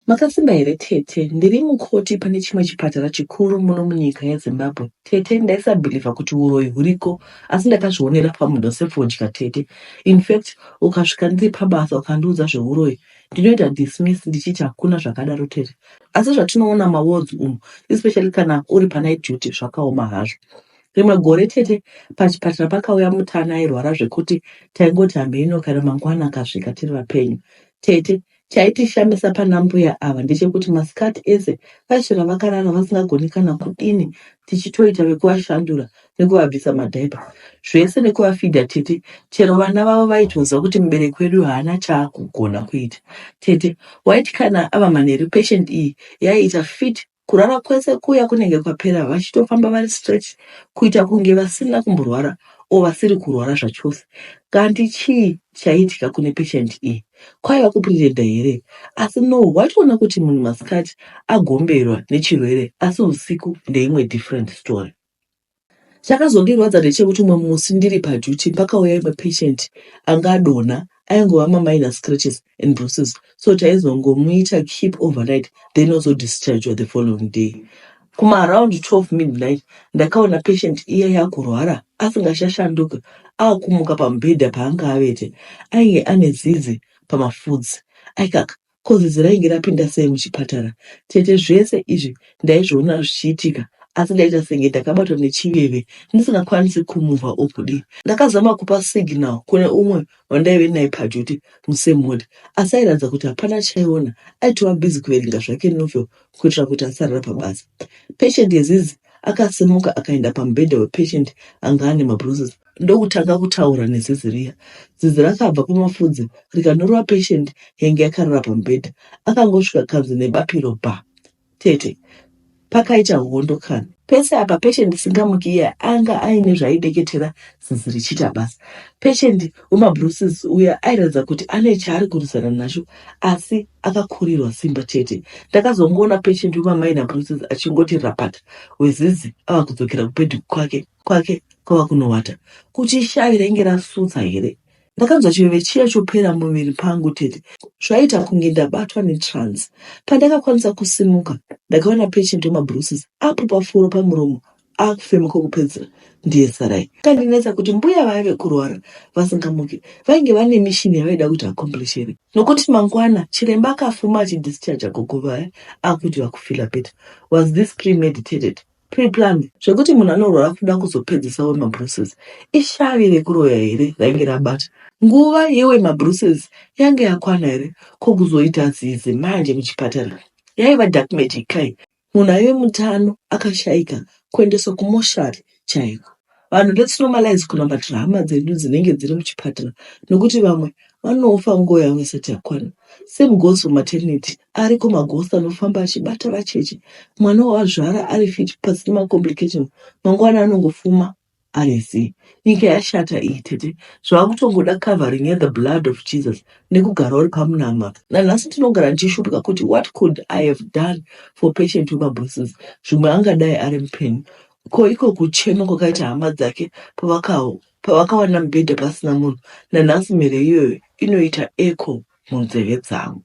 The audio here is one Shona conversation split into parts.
Makasimba here tete ndiri mukoti pane chimwe chipatara chikuru muno munyika yezimbabwe tete ndaisabhilivha kuti uroyi huriko asi ndakazvionera pamudo sefodya tete infact ukasvika ndiri pabasa ukandiudza zveuroyi ndinoita dismiss ndichiti hakuna zvakadaro tete asi zvatinoona mawards umu especially kana uri panight duty zvakaoma hazvo rimwe gore tete pachipatara pakauya mutana airwara zvekuti taingoti hameno kana mangwana akasvika tiri vapenyu tete Chaitishamisa pana mbuya ava ndechekuti masikati ese vaiswera vakarara vasingagoni kana kudini tichitoita vekuvashandura nekuvabvisa madhaipa zvese nekuvafidha tete chero vana vavo vaitonzwa kuti mubereki wedu haana chaakugona kuita tete waiti kana ava manheru patient iyi yaiita fit Kurara kwese kuya kunenge kwapera vachitofamba vari straight kuita kunge vasina kumborwara or vasiri kurwara zvachose. Kanti chii chaiitika kune patient iyi? Kwaiva kupretender here? Asi no, waitoona kuti munhu masikati agomberwa nechirwere asi husiku ndeimwe different story. Chakazondirwadza ndechekuti umwe musi ndiri paduty pakauya imwe patient anga adonha aingova maminor scratches and bruises so taizongomuita keep overnight then ozodischargwa the following day. Kumaaround 12 midnight ndakaona patient iya yakurwara asingachashanduki akumuka pamubhedha paanga avete. Ainge ane zizi pamafudzi. Aikaka Ko zizi rainge rapinda sei muchipatara? Tete zvese izvi ndaizviona zvichiitika asi ndaita senge ndakabatwa nechiveve ndisingakwanisi kumuva or kudii. Ndakazama kupa signal kune umwe wandaive naye paduty musame ward asi airatidza kuti hapana chaiona aitova busy kuverenga zvake novel kuitira kuti asarara pabasa. Patient yezizi akasimuka akaenda pamubhedha wepatient anga ane mabruises ndokutanga kutaura nezizi riya. Zizi rakabva pamafudzi rikanorova patient yainge yakarara pamubhedha. Akangosvika kanzi nebapiro bha. Tete, pakaita hondo kani. Pese apa patient isingamuki iya anga aine zvaideketera zizi richiita basa. Patient wemabruises uya airatidza kuti ane chaari kurwisana nacho asi akakurirwa simba chete. Ndakazongoona patient wemamaina bruises achingoti rapata wezizi ava kudzokera kubhedhi kwake. kwake kwava kunowata kuti shavi rainge rasutsa here ndakanzwa chiveve chiya chopera muviri pangu tete zvaita kunge ndabatwa netrans pandakakwanisa kusimuka ndakaona patient wemabruces apo pafuro pamuromo akufema kwokupedzera ndiye sarai kandinetsa kuti mbuya vaive kurwara vasingamuke vainge vane mishini yavaida kuti akomblishere nokuti mangwana chiremba akafuma achidischarge gogo vaya akuti vakufila peta was this premeditated Pre-planned zvekuti munhu anorwara kuda kuzopedzisa we mabruises ishavi rekuroya here rainge rabata nguva yewe mabruises yange yakwana here ko kuzoita zizi manje muchipatara yaiva dark magic kai munhu aive mutano akashaika kuendeswa kumoshari chaiko vanhu let's normalize kunamatira hama dzedu dzinenge dziri muchipatara nokuti vamwe vanofa nguva yavo isati yakwana same goes for maternity ari kumagosi anofamba achibata vacheche mwana wawazvara ari fit pasina macomplication mangwana anongofuma ari zii nyika yashata iyi tete zvaakutongoda covering yethe blood of jesus nekugara uri pamunama nanhasi ndinogara ndichishuphika kuti what could i have done for patient wemabosses zvimwe angadai ari mupenyu ko iko kuchema kwakaita hama dzake pavakawana mubhedha pasina munhu nanhasi mhere iyoyo inoita eco munzeve dzangu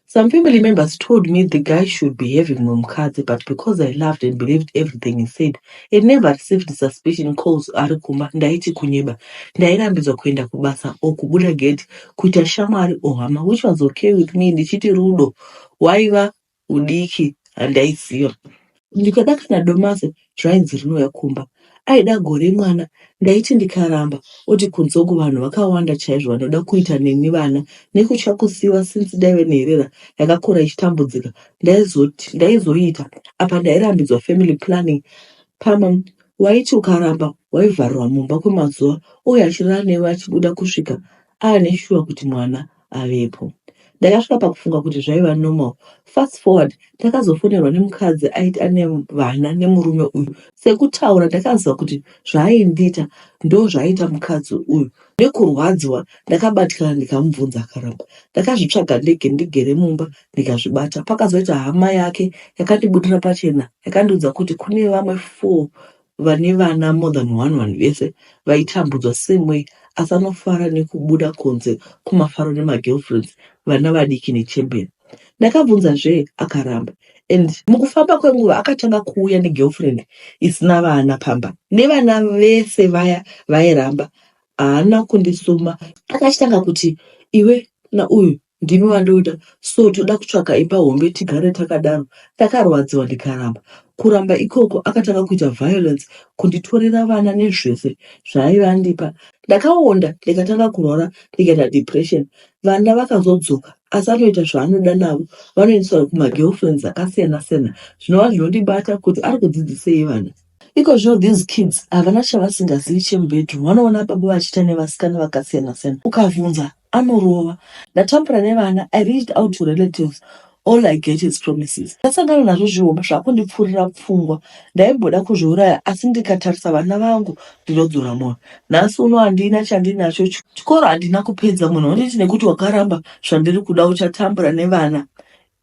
Some family members told me the guy should be having mumukadzi but because I loved and believed everything he said and never received suspicion calls ari kumba ndaiti kunyeba. Ndairambidzwa kuenda kubasa or kubuda gate kuita shamwari or hama which was okay with me ndichiti rudo hwaiva hudiki handaiziva. Ndikada kana domasi zvainzi rinouya kumba. Aida gore mwana ndaiti ndikaramba oti kunze uku vanhu vakawanda chaizvo vanoda kuita neni vana nekutya kusiiwa since ndaive nherera yakakura ichitambudzika ndaizoti ndaizoita apa ndairambidzwa family planning pamwe waiti ukaramba waivharirwa mumba kwemazuva uye achirara newe achibuda kusvika aane shuwa kuti mwana avepo. Ndakasvika pakufunga kuti zvaiva normal. Fast forward ndakazofonerwa nemukadzi aiti ane vana nemurume uyu. Sekutaura ndakaziva kuti zvaaindiita ndozvaiita mukadzi uyu. Nekurwadziwa ndakabatikana ndikamubvunza akaramba. Ndakazvitsvaga ndege ndigere mumba ndikazvibata. Pakazoita hama yake yakandibudira pachena yakandiudza kuti kune vamwe four vane vana more than one vanhu vese vaitambudzwa same way asi anofara nekubuda kunze kumafaro nemagirlfriends vana vadiki nechembere ndakabvunza zvee akaramba and mukufamba kwenguva akatanga kuuya negirlfriend isina vana pamba nevana vese vaya vairamba haana kundisuma akachitanga kuti iwe na uyu Ndimi wandoda so toda kutsvaga imba hombe tigare takadaro ndakarwadziwa ndikaramba. Kuramba ikoko akatanga kuita violence kunditorera vana nezvese zvaaive andipa. Ndakaonda ndikatanga kurwara ndikaita depression. Vana vakazodzoka asi anoita zvaanoda navo vanoendeswa kumagirlfriends akasiyana siyana zvinova zvinondibata kuti ari kudzidzisei vana. Ikozvino these kids havana chavasingazivi chemubedroom vanoona baba vachiita nevasikana vakasiyana siyana ukavhunza anorova ndatambura nevana i reached out to relatives all i get is promises ndasangana nazvo zvihoma zvakundipfuurira pfungwa ndaimboda kuzviuraya asi ndikatarisa vana vangu ndinodzora moyo nhasi uno handina chandinacho chikoro handina kupedza munhu wanditi nekuti wakaramba zvandiri kuda uchatambura nevana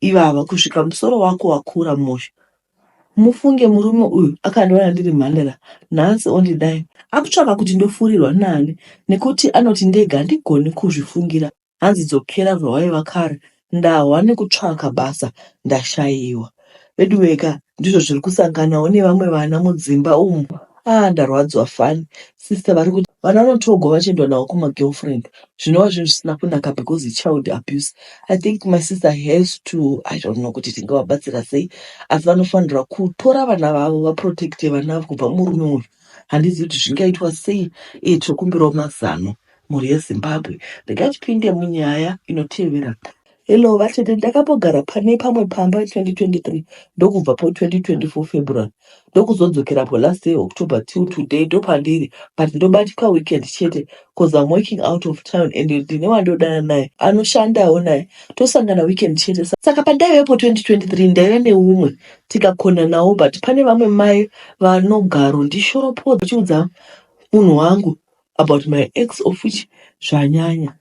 ivava kusvika musoro wako wakura mosha Mufunge murume uyu akandiona ndiri mhandara nhasi ondidai akutsvaka kuti ndofurirwa naani nekuti anoti ndega handigoni kuzvifungira hanzi dzokera zvawaiva kare ndahwa nekutsvaka basa ndashaiwa veduweka ndizvo zviri kusanganawo nevamwe vana mudzimba umu aa ndarwadziwa fani Sister vari kuti vana vanotogwa vachiendwa navo kuma girlfriend zvinova zvinhu zvisina kunaka because child abuse. I think my sister has to I don't know kuti tingavabatsira sei asi vanofanirwa kutora vana vavo vaprotecte vana avo kubva murume uyu. Handizivi kuti zvingaitwa sei iye tinokumbirawo mazano mhuri yeZimbabwe. Regai tipinde munyaya inotevera. Hello vatete, ndakambogara pane pamwe pamba 2023 ndokubva po 2024 February ndokuzodzokera po last year October till today ndopandiri but ndobatika weekend chete cause I'm working out of town and ndine wandodana naye anoshandawo naye tosangana weekend chete Sa- saka pandaive po 2023 ndaive neumwe tikakonanawo but pane vamwe mai vanogaro ndishoropodza chiudza munhu wangu about my ex of which zvanyanya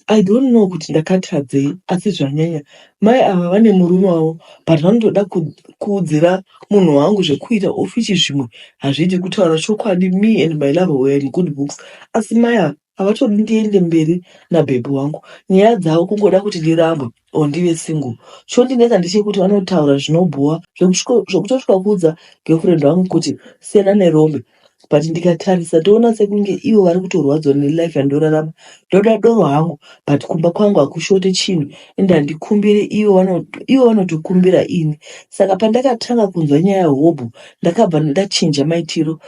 i don't know kuti ndakatadzei asi zvanyanya mai ava vane murume wavo but vanotoda ku- kuudzira munhu wangu zvekuita of which zvimwe hazvidi kutaura chokwadi me and my lover were in good books asi mai ava havatodi ndiende mberi nabhebhi wangu nyaya dzavo kungoda kuti ndirambwe or ndive single chondinetsa ndechekuti vanotaura zvinobhowa zvekusviko- zvekutosvika kuudza girlfriend wangu kuti siyana nerombe but ndikatarisa toona sekunge ivo vari kutorwadziwa nelife yandorarama ndoda doro hangu but kumba kwangu hakushote chinhu and handikumbire ivo vano- ivo vanotikumbira ini saka pandakatanga kunzwa nyaya yehobho ndakabva ndachinja maitiro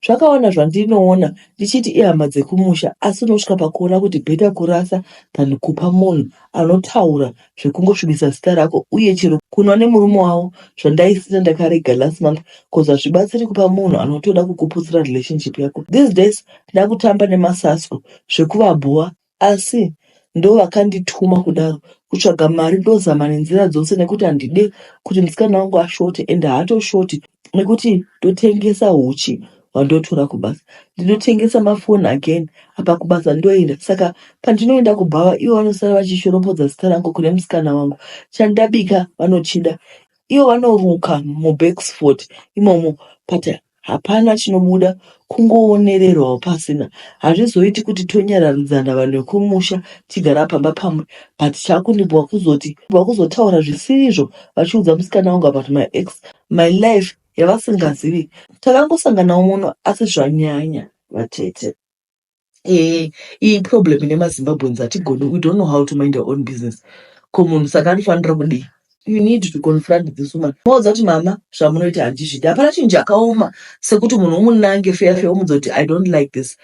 Zvakawana zvandinoona ndichiti ihama dzekumusha asi unosvika pakuona kuti bheta kurasa than kupa munhu anotaura zvekungosvibisa zita rako uye chero kunwa nemurume wavo zvandaisina ndakarega last month cause hazvibatsiri kupa munhu anotoda kukuputsira relationship yako these days ndakutamba nemasasko zvekuvabhowa asi ndovakandituma kudaro kutsvaga mari ndozama nenzira dzose nekuti handide kuti musikana wangu ashote and haatoshoti nekuti ndotengesa uchi hwandotora kubasa ndinotengesa mafoni again apa kubasa ndoenda saka pandinoenda kubhawa ivo vanosara vachishorombodza zita rangu kune musikana wangu chandabika vanochida ivo vanoruka mubacksport imomo but Hapana chinobuda kungoonererwawo pasina. Hazvizoiti kuti tonyararidzana vanhu vekumusha tichigara pamba pamwe but chakundibowa kuzoti vakuzotaura zvisirizvo vachiudza musikana wangu about my ex my life yavasingazivi. Takangosanganawo muno asi zvanyanya vatete. eh, iyi problem ine mazimbabweans hatigoni we don't know how to mind our own business ko munhu saka anofanira kudii you need to confront this woman maudza kuti mama zvamunoita handizvidi hapana chinhu chakaoma sekuti munhu umunange feya feya omudza kuti i don't like this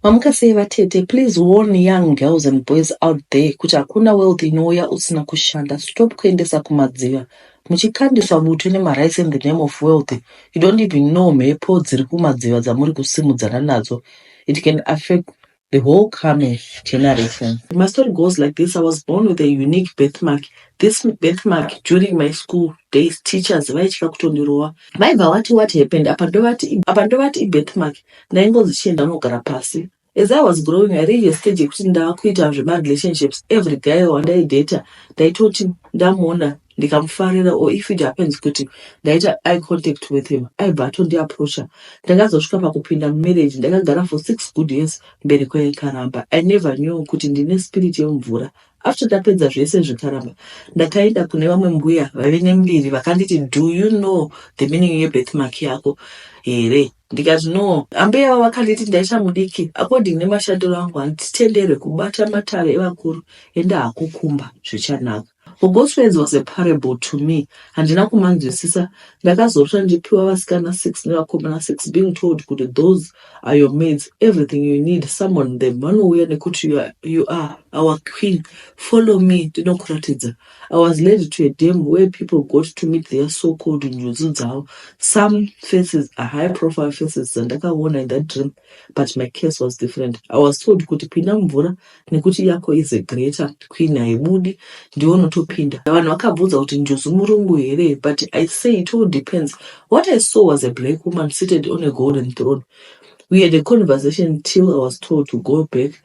mamuka sei vatete please warn young girls and boys out there kuti hakuna wealth inouya usina kushanda stop kuendesa kumadziva muchikandisa bute nemarice in the name of wealth you don't even know mhepo dziri kumadziva dzamuri kusimudzana nadzo it can affect the whole coming generation my story goes like this i was born with a unique birth mark this birth mark during my school days teachers vaitya kutondirova vaibva vati what happened apa ndovati apa ndovati ibirth mark ndaingonzi chienda unogara pasi As I was growing, I reached a stage yekuti ndava kuita zvemarelationships. Every guy wandaidata ndaitoti ndamuona ndikamufarira or if it happens kuti ndaita eye contact with him aibva atondiapproacha. Ndakazosvika pakupinda mumarriage ndakagara for six good years mberi kwekaramba. I never knew kuti ndine spirit yemumvura. After ndapedza zvese zvekaramba ndakaenda kune vamwe mbuya vaive nembiri vakanditi do you know the meaning yebirth mark yako here? Ndikati no, ambuya avo vakanditi ndaita mudiki according nemashandiro angu handitenderwe kubata matare evakuru ende hakukumba zvichanaka. For God's words was a parable to me, handina kumanzwisisa. Ndakazorota ndichipiwa vasikana six nevakomana six being told kuti those are your maids, everything you need summon them vanouya nekuti you are, you are our queen, follow me ndinokuratidza. I was led to a demo where people got to meet their so called njuzu dzavo. Some faces are high profile faces dzandakaona in that dream, but my case was different. I was told kuti pinda mumvura nekuti yako is a greater queen haibudi ndiwo unotopinda. Vanhu vakabvunza kuti njuzu murungu here, but I say it all depends. What I saw was a black woman seated on a golden throne. We had a conversation till I was told to go back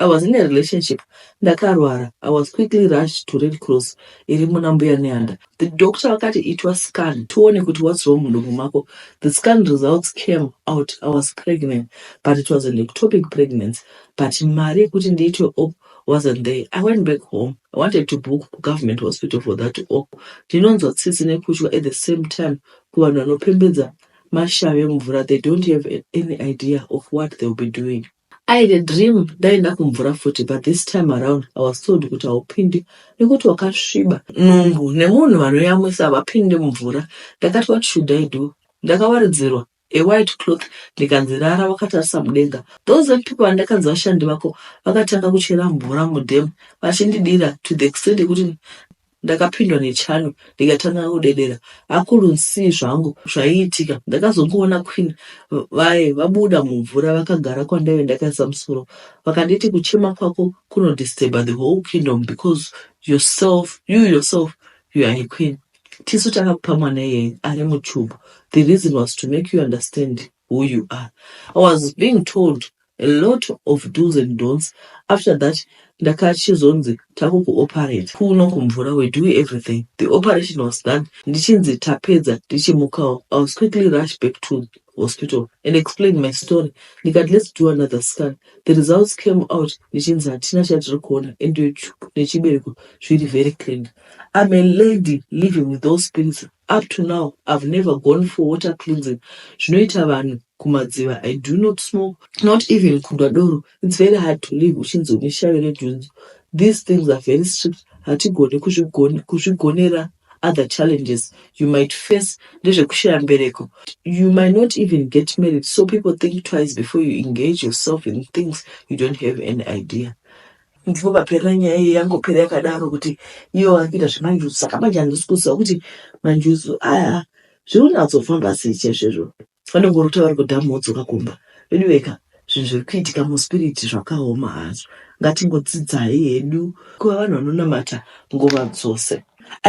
I was in a relationship ndakarwara I was quickly rushed to Red Cross iri muna mbuya Nehanda. The doctor vakati itwa scan tione kuti what's wrong mudumbu mako. The scan results came out I was pregnant but it was an ectopic pregnancy but mari yekuti ndiitwe op wasn't there. I went back home I wanted to book ku government hospital for that op. Ndinonzwa tsitsi nekutya at the same time kuvanhu vanopembedza mashave mvura they don't have any idea of what they will be doing. I had a dream ndaenda kumvura futi but this time around I was told kuti haupindi nekuti wakasviba. Nhumbu nemunhu vanoyamwisa havapinde mumvura. Ndakati what should I do? Ndakawaridzirwa a white cloth ndikanzi rara wakatarisa mudenga. Those white people vandakanzi vashandi vako vakatanga kuchera mvura mudam vachindidira to the extent yekuti Ndakapindwa nechando ndikatanga kudedera akulu nsii zvangu zvaiitika ndakazongoona queen vaye vabuda mumvura vakagara kwandaive ndakaisa musoro vakanditi kuchema kwako kuno disturba the whole kingdom because yourself you yourself you are a queen tisu takakupa mwana iyeye ari muchubu the reason was to make you understand who you are i was being told a lot of do's and don'ts after that ndakachizonzi takukuoperate kuno kumvura we do everything the operation was done ndichinzi tapedza ndichimukawo i was quickly rushed back to hospital and explained my story ndikati let's do another scan the results came out ndichinzi hatina chatiri kuona and nechibereko zviri very clean i'm a lady living with those spirits up to now i've never gone for water cleansing zvinoita vanhu kumadziva i do not smoke not even kundwa doro its very hard to live uchinzi une shavi redhunzu these things are very strict hatigone kuzvigonera other challenges you might face ndezvekushaya mbereko you might not even get married so people think twice before you engage yourself in things you don't have an idea ndipo paperera nyaya iyi yangopera yakadaro kuti iyo akuita zvemanjuzu saka manje handisi kuziva kuti manjuzu aya zviri kunyatsofamba sei chaizvo izvo Vanongorota vari kudhamu vodzoka kumba. Veduweka, zvinhu zviri kuitika muspiriti zvakaoma hazvo. Ngatingodzidzai hedu kuva vanhu vanonamata nguva dzose.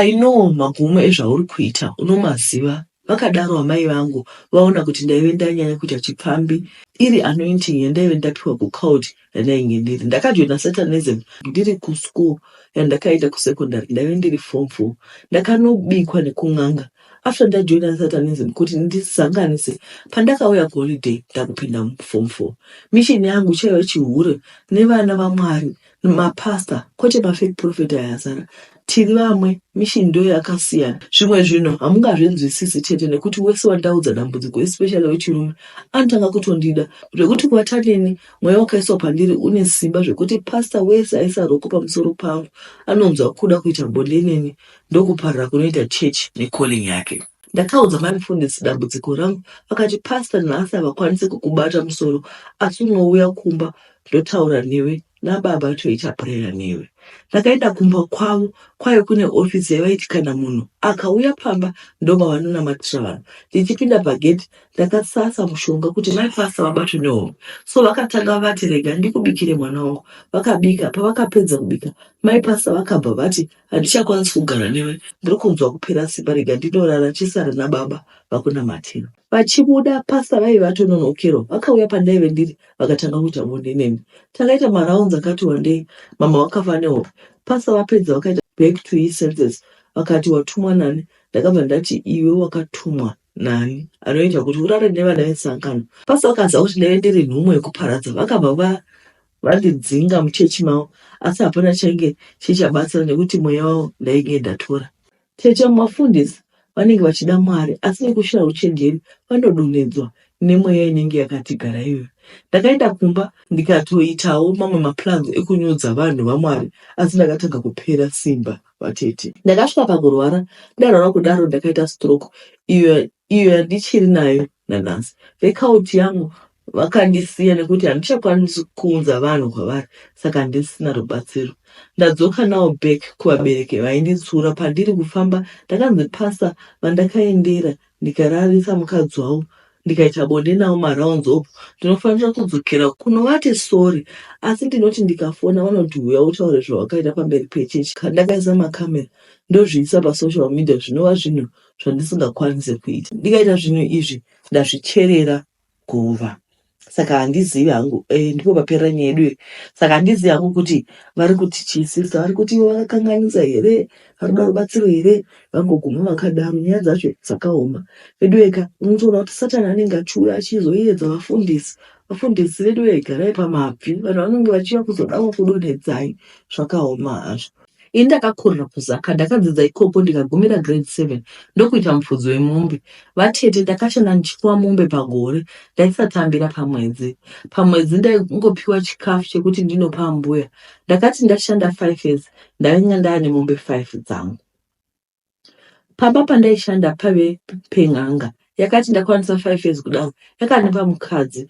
I know magumo ezvauri kuita unomaziva, vakadaro amai vangu vaona kuti ndaive ndanyanya kuita chipfambi iri anointing yandaive ndapiwa kuCold yandainge ndiri ndakajoina satanism ndiri kuschool yandakaita kusecondary ndaive ndiri form four ndakanobikwa nekun'anga after ndajoina satanism kuti ndizanganise pandakauya kuholiday ndakupinda muform four mission yangu chaiva chihure nevana vamwari mapastor kwete mafake prophet ayazara Tiri vamwe, mission ndoyo yakasiyana. Zvimwe zvinhu hamungazvinzwisisi chete nekuti wese wandaudza dambudziko especially wechirume anotanga kutondida zvekuti kuata neni mweya wakaiswa pandiri une simba zvekuti pastor wese aisa roko pamusoro pangu anonzwa kuda kuita bonde neni ndokuparira kunoita church necalling yake. Ndakaudza mai mufundisi dambudziko rangu vakati pastor nhasi havakwanise kukubata musoro asi unouya kumba ndotaura newe nababa toita prayer newe ndakaenda kumba kwavo kwaye kune ofisi yavaiti kana munhu akauya pamba ndomavanonamatira vanhu ndichipinda pagedhi ndakasasa mushonga kuti mai pasa vabatwe nehomwe so vakatanga vati rega ndikubikire mwana wangu vakabika pavakapedza kubika mai pasa vakabva vati handichakwanisi kugara newe ndiri kunzwa kupera simba rega ndinorara chisara nababa vakunamatira Vachibuda pastor vaive vatononokerwa vakauya pandaive ndiri vakatanga kuita bonde neni. Takaita marounds akati wandei, mama vakafa nehope. Pastor vapedza vakaita back to his senses vakati watumwa nani? Ndakabva ndati iwe wakatumwa nani anoita kuti urare nevana vesangano. Pastor vakaziva kuti ndaive ndiri nhumo yekuparadza vakabva va vandidzinga muchechi mavo asi hapana chainge chichabatsira nekuti mweya wavo ndainge ndatora. Tete vamwe vafundisi vanenge vachida Mwari asi nekushaya uchenjeri vanodonhedzwa nemweya inenge yakati gara iyoyo. Ndakaenda kumba ndikatoitawo mamwe maplans ekunyudza vanhu vaMwari asi ndakatanga kupera simba vatete. Ndakasvika pakurwara ndarwara kudaro ndakaita stroke iyo iyo yandichiri nayo Nanhasi vekauti yangu vakandisiya nekuti handichakwanisi kuunza vanhu kwavari saka handisina rubatsiro. Ndadzoka nawo back kuvabereki vainditsiura pandiri kufamba ndakanzi pasa vandakaendera ndikararisa mukadzi wavo ndikaita bonde navo marounds opo ndinofanira kudzokera kunovati sorry asi ndinoti ndikafona vanoti huya utaure zvawakaita pamberi pechurch ndakaisa macamera ndozviisa pasocial media zvinova zvinhu so zvandisingakwanise kuita ndikaita zvinhu izvi ndazvicherera guva saka handizivi hangu eh, ndipo paperera nyaya yedu saka handizivi hangu kuti vari kuti chiisisa vari kuti ivo vakakanganisa here vanoda rubatsiro here vangoguma vakadaro nyaya dzacho dzakaoma vedu veka unotoona kuti satani anenge achiuya achizoyedza vafundisi vafundisi vedu vegarai pamabvi vanhu vanenge vachiya kuzodawo kudonhedzai zvakaoma hazvo Ini ndakakurira kuZaka, ndakadzidza ikoko ndikagumira grade 7 ndokuita mupfudzi wemombe. Vatete ndakashanda ndichifuwa mombe pagore, ndaisatambira pamwedzi. Pamwedzi ndaingopiwa chikafu chekuti ndinopa ambuya. Ndakati ndashanda 5 years ndainge ndane mombe 5 dzangu. Pamba pandaishanda pave pen'anga yakati ndakwanisa five years kudaro yakandipa mukadzi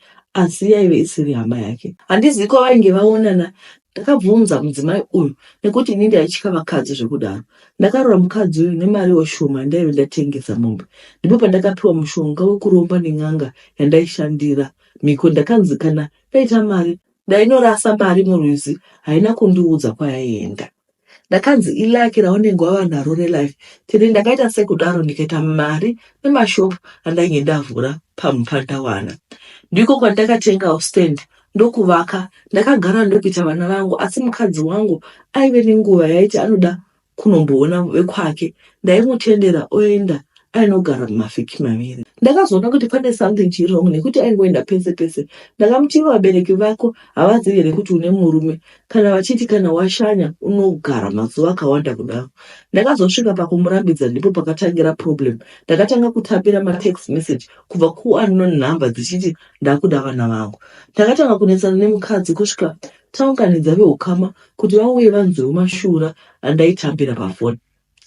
asi yaive isiri hama yake. Handizi kwavainge vaonana ndakabvunza mudzimai uyu nekuti ini ndaitya vakadzi zvekudaro. Ndakarora mukadzi uyu nemariwo shoma yandaive ndatengesa mombe. Ndipo pandakapiwa mushonga wekuromba nen'anga yandaishandira. Mhiko ndakanzi kana ndaita mari ndainorasa mari murwizi haina kundiudza kwayaenda. ndakanzi ilaki raunenge wava naro relife tiri ndakaita sekudaro ndikaita mari nemashop andainge ndavhura pamupfa ndawana ndiko kwandakatengawo stand ndokuvaka ndakagara ndokuita vana vangu asi mukadzi wangu aive nenguva yaiti anoda kunomboona vekwake ndaimutendera oenda ainogara mumavhiki maviri ndakazoona kuti pane something chiri wrong nekuti aingoenda pese pese ndakamuti ivo vabereki vako havazivi here kuti une murume kana vachiti kana washanya unogara mazuva akawanda kudaro ndakazosvika pakumurambidza ndipo pakatangira problem ndakatanga kutapira matext message kubva kuunknown number dzichiti ndakuda vana vangu ndakatanga kunetsana nemukadzi kusvika taunganidza veukama kuti vauye vanzwewo mashura andaitambira pafoni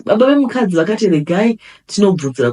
Baba vemukadzi vakati regai tinobvunzira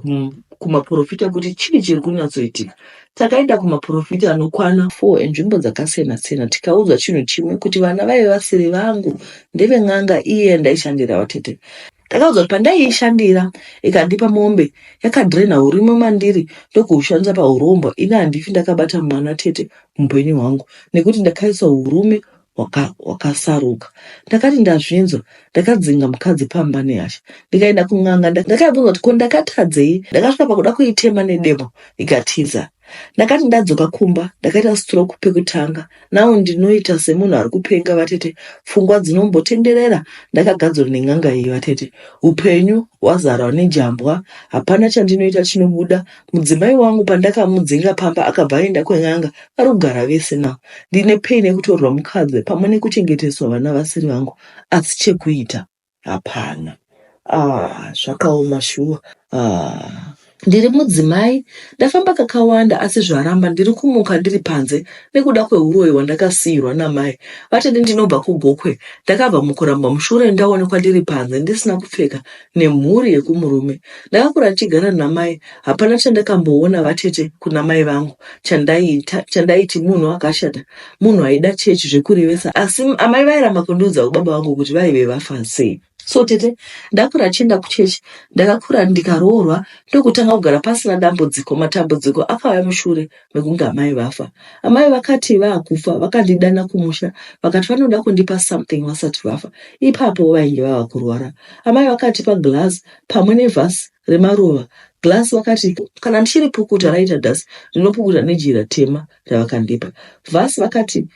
kumaporofita kuti chii chiri kunyatsoitika. Takaenda kumaporofita anokwana four enzvimbo dzakasiyana-siyana tikaudzwa chinhu chimwe kuti vana vaive vasiri vangu ndeve n'anga iye yandaishandira vatete ndakaudzwa kuti pandaiishandira ikandipa mombe yakadrena urimo mandiri ndokuushandisa paurombo ini handifi ndakabata mwana tete muupenyu hwangu nekuti ndakaisa urume waka wakasaruka ndakati ndazvinzwa ndakadzinga mukadzi pamba nehasha ndikaenda kun'anga nda- ndakabvunza kuti ko ndakatadzei ndakasvika pakuda kuitema nedemo ikatiza ndakati ndadzoka kumba ndakaita stroke pekutanga now ndinoita semunhu ari kupenga vatete pfungwa dzinombotenderera ndakagadzwa nen'anga iyi vatete upenyu hwazarwa nejambwa hapana chandinoita chinobuda Mudzimai wangu pandakamudzinga pamba akabva aenda kwen'anga ari kugara vese now. Ndine pain yekutorerwa mukadzi pamwe nekuchengeteswa vana vasiri vangu asi chekuita hapana. Ah, zvakaoma shuwa. Ah. Ndiri mudzimai, ndafamba kakawanda asi zvaramba ndiri kumuka ndiri panze nekuda kwehuroyi hwandakasiirwa namai vatete. Ndinobva kuGokwe, ndakabva mukurambwa mushure ndaonekwa ndiri panze ndisina kupfeka nemhuri yekumurume ndakakura tichigara namai hapana chandakamboona vatete kuna mai vangu chandaiita chandaiti munhu akashata munhu aida chechi zvekurevesa asi amai vairamba kundiudza kubaba vangu kuti vaive vafa sei so tete ndakura chienda kuchechi ndakakura ndikaroorwa ndokutanga kugara pasina dambudziko matambudziko akauya mushure vekunge amai vafa amai vakati vaakufa vakandidana kumusha vakati vanoda kundipa something vasati vafa ipapo vainge vava kurwara amai vakati paglass pamwe nevhasi remaruva glass vakati kana ndichiri pukuta raita dasi ndinopukuta nejira tema ravakandipa vhasi vakati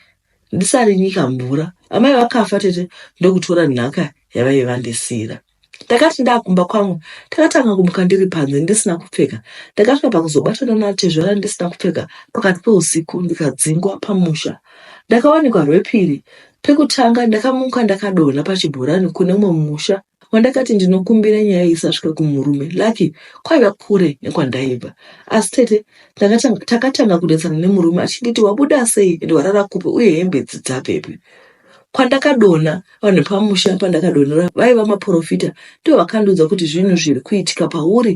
ndisarinyika mvura amai vakafa tete ndokutora nhaka yavaive vandisiira ndakati ndakumba kwangu takatanga kumuka ndiri panze ndisina kupfeka ndakasvika pakuzobatana natezvara ndisina kupfeka pakati peusiku ndikadzingwa pamusha ndakawanikwa rwepiri pekutanga ndakamuka ndakadonha pachibhorani kune umwe musha wandakati ndinokumbira nyaya isasvika kumurume lucky kwaiva kure nekwandaiva asi tete takatanga kunetsana nemurume achinditi wabuda sei ende warara kupi uye hembe dzi dzapepi Kwandakadona vanhu pamusha pandakadonera vaiva maporofita ndivo vakandiudza kuti zvinhu zviri kuitika pauri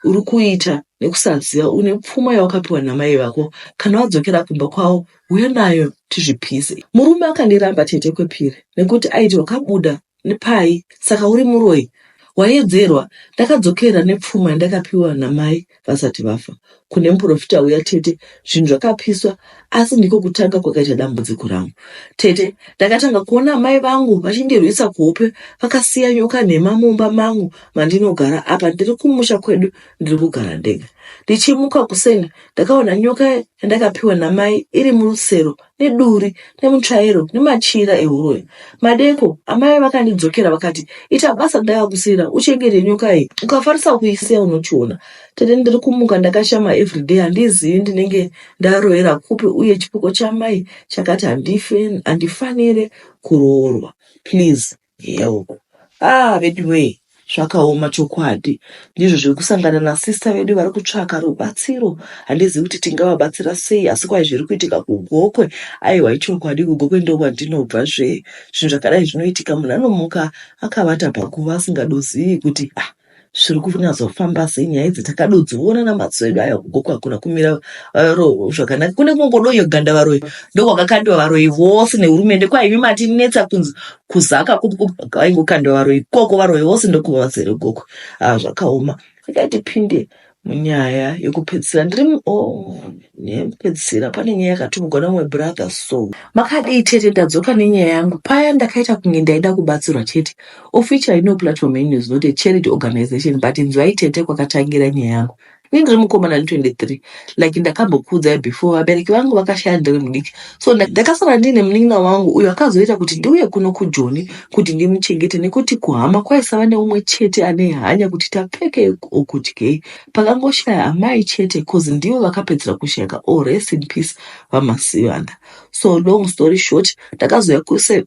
uri kuita nekusaziva une pfuma yawakapiwa namai vako kana wadzokera kumba kwavo huya nayo tizvipise murume akandiramba tete kwepiri nekuti aiti wakabuda Ndipai saka uri muroyi waedzerwa ndakadzokera nepfuma yandakapiwa namai vasati vafa kune muprofita uya tete zvinhu zvakapiswa asi ndiko kutanga kwakaita dambudziko rangu tete ndakatanga kuona amai vangu vachindirwisa kuhope vakasiya nyoka nhema mumba mangu mandinogara apa ndiri kumusha kwedu ndiri kugara ndega ndichimuka kuseni ndakaona nyoka yandakapiwa namai iri murusero neduri nemutsvairo nemachira ehuroyi. Madeko amai vakandidzokera vakati, ita basa ndakakusiyira uchengete nyoka iyi, ukafarisa kuisiya unochiona. Tete ndiri kumuka ndakashama everyday handizivi ndinenge ndaroyera kupi uye chipoko chamai chakati handife, handifanire kuroorwa please. Hell. Ah veduwee zvakaoma chokwadi. Ndizvo zviri kusangana nasista vedu vari kutsvaka rubatsiro. Handizivi kuti tingavabatsira sei asi kwai zviri kuitika kuGokwe. Aiwa ichokwadi kuGokwe ndokwandinobva zve. Zvinhu zvakadai zvinoitika munhu anomuka akavata paguva asingadozivi kuti ah zviri kunyatsofamba sei nyaya idzi takadodziona namadziso edu aya kugoku hakuna kumira varoho zvakanaka kune kungodonyo ganda varoyi ndokwakakandiwa varoyi vose nehurumende kwaimi matinetsa kunzi kuzaka kuaingokandiwa varoyi koko varoyi vose ndokuva vazere goku haa zvakaoma akaitipinde munyaya yekupedzisira ndiri mu- oh, nyaya yekupedzisira pane nyaya yakatumigwa namwe brother so makadii tete ndadzoka nenyaya yangu paya ndakaita kunge ndaida kubatsirwa chete of which i know platform yenyu is not a charity organization but inzwai tete kwakatangira nyaya yangu ini ndiri mukomana ane 23 like ndakambokuudzai before vabereki vangu vakashaya ndiri mudiki so ndakasara ndiine munin'ina wangu uyo akazoita kuti ndiuye kuno kujoni kuti ndimuchengete nekuti kuhama kwaisava neumwe chete ane hanya kuti tapfekei or kudyei pakangoshaya amai chete bcause ndivo vakapedzisira kushayika or oh, rest in peace vamasivana so long story short ndakazouya kusa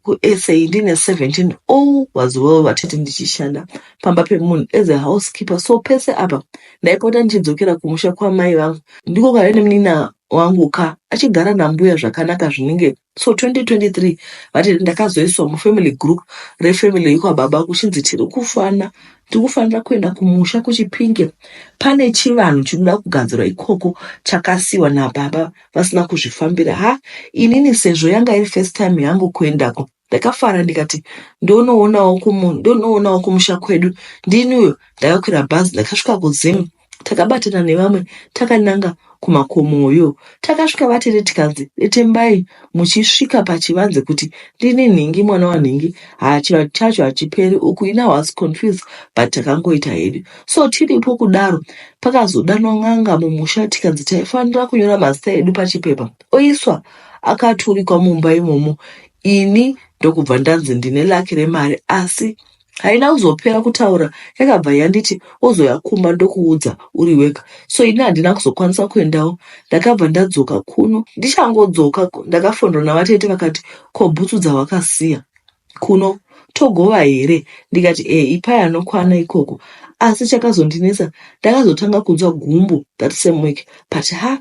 ndiine 17 all was well vatete ndichishanda pamba pemunhu as a housekeeper so pese apa ndaipota ndichidzokera kumusha kwamai vangu ndiko kaive nemunin'ina wangu ka achigara nambuya zvakanaka zvinenge so 2023 vati ndakazoiswa mufamily group refamily yekwababa kuchinzi tiri kufana tikufanira kuenda kumusha kuchipinge pane chivanhu chinoda kugadzirwa ikoko chakasiwa nababa vasina kuzvifambira ha inini sezvo yanga iri first time yangu kuendako Ndakafara ndikati ndonoonawo kumu ndonoonawo kumusha kwedu ndini uyo ndakakwira bhazi ndakasvika kuZim takabatana nevamwe takananga kumakomoyo takasvika vatete tikanzi detembai muchisvika pachivanze kuti ndini nhingi mwana wanhingi hachivanhu chacho hachiperi uku ina was confused but takangoita hedu so tiripo kudaro pakazodanwa n'anga mumusha tikanzi taifanira kunyora mazita edu pachipepa oiswa akaturikwa mumba imomo ini ndokubva ndanzi ndine laki remari asi haina kuzopera kutaura yakabva yanditi ozoya kumba ndokuudza uri wega so ini handina kuzokwanisa kuendawo ndakabva ndadzoka kuno ndichangodzoka ndakafonderwa navatete vakati ko bhutsu dzawakasiya kuno togova here ndikati e ipai anokwana ikoko asi chakazondinetsa ndakazotanga kunzwa gumbo that same week but ha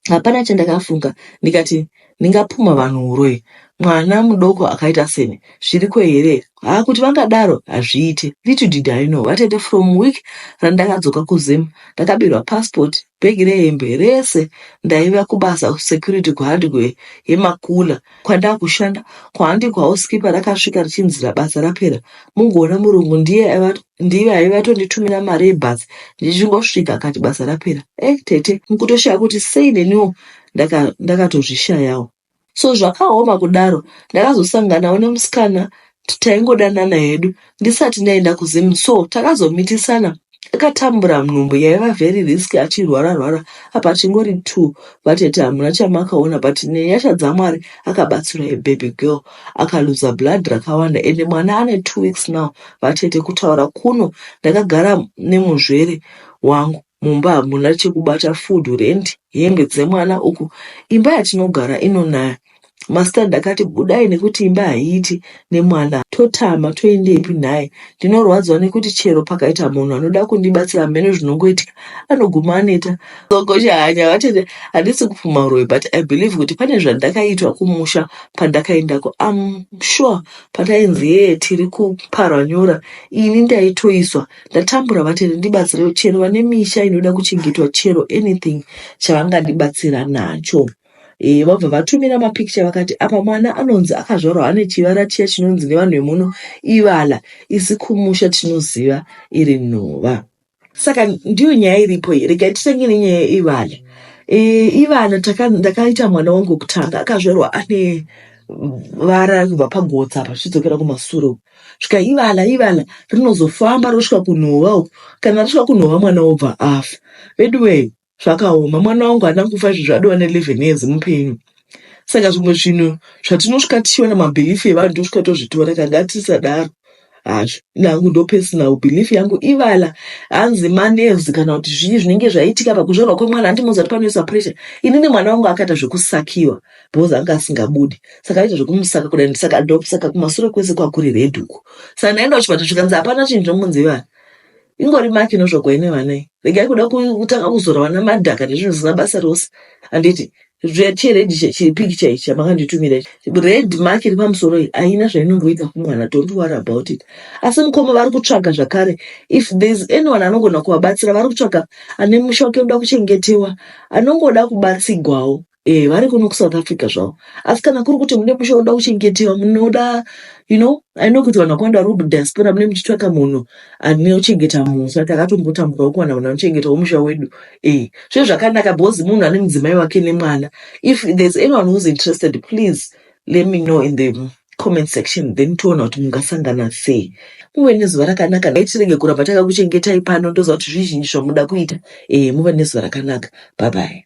Hapana chandakafunga ndikati ndingapumha vanhu uroyi mwana mudoko akaita seni zviriko here haa kuti vangadaro hazviite little did i know vatete from week randakadzoka kuzim ndakabirwa passport bhegi rehembe rese ndaiva kubasa kusecurity kuhandikoe yemakula kwandakushanda kuhandikoe housekeeper rakasvika richinzira basa rapera mungoona murungu ndiye aiva ndiye aive atonditumira mari yebhazi ndichingosvika akati basa rapera eh tete mukutoshaya kuti sei neniwo ndaka- ndakatozvishayawo so zvakaoma kudaro ndakazosanganawo nemusikana t- taingodanana hedu ndisati ndaenda kuzim so takazomitisana akatambura nhumbu yaiva very risk achirwara rwara apa chingori two vatete hamuna chamakaona but nenyasha dzamwari akabatsira a baby girl akaluza blood rakawanda ende mwana ane two weeks now vatete kutaura kuno ndakagara nemuzvere wangu mumba hamuna chekubata food rent hembe dzemwana uku imba yatinogara inonaya mastad akati budai nekuti imba haiiti nemwana totama toendepi nhai ndinorwadziwa nekuti chero pakaita munhu anoda kundibatsira hameno zvinongoitika anoguma aneta Gogo Shahanya vati handisi kupfuma uroyi but I believe kuti pane zvandakaitwa kumusha pandakaendako. I'm sure patainzi yee tiri kuparwa nyora ini ndaitoiswa ndatambura vati ndibatsire chero vane misha inoda kuchengetwa chero anything chavangandibatsira nacho. Eh, vabva vatumira mapikicha vakati apa mwana anonzi akazvarwa ane chivara chiya chinonzi nevanhu vemuno ivala isi kumusha tinoziva iri nhova. saka ndiyo nyaya iripo iyi rega titenge nenyaya ivana e, ivana taka- ndakaita mwana wangu wekutanga akazvarwa ane vara kubva pagotsa apa zvichidzokera kumasure uku svika ivana ivana rinozofamba rosvika kunhova uku kana rasvika kunhova mwana obva afa veduwee zvakaoma mwana wangu haana kufa izvi zvadiwa ne 11 years mupenyu saka zvimwe zvinhu zvatinosvika tichiona mabhilifi evanhu tosvika tozvitora tanga tisadaro hazvo nangu ndo personal belief yangu ivala hanzi manerves kana kuti zvii zvinenge zvaitika pakuzvarwa kwemwana handimozi ati panoisa pressure inini mwana wangu akaita zvekusakiwa because anga asingabudi saka aita zvekumusaka kudai ndisaka ndosaka kumasure kwese kwakuri red uku saka ndaenda kuchipatara zvikanzi hapana chinhu chomunzi ivana ingori maki inozvagwa ine vana iyi regai kuda ku- kutanga kuzora vana madhaka nezvinhu zvisina basa rose handiti zve- chiredhi che- chipikicha ichi chamanganditumira ichi red mark iri pamusoro iyi haina zvainomboita kumwana don't worry about it asi mukoma vari kutsvaga zvakare if there's anyone anogona kuvabatsira vari kutsvaga ane musha wake unoda kuchengetewa anongoda kubatsigwawo Eh, vari kuno kusouth africa zvavo asi kana kuri kuti mune musha unoda kuchengetewa munoda you know i know kuti vanhu vakawanda vari kudiaspora mune muchitsvaka munhu ane uchengeta munhu saka takatombotambura wokuwana vanhu vanochengeta womusha wedu eh zve zvakanaka because munhu ane mudzimai wake nemwana if there's anyone who's interested please Let me know in the comment section then toona kuti mungasangana sei. Muve nezuva rakanaka nhai tirege kuramba takakuchengetai pano ndoziva kuti zvizhinji zvamuda kuita. Eh muve nezuva rakanaka. Bye bye.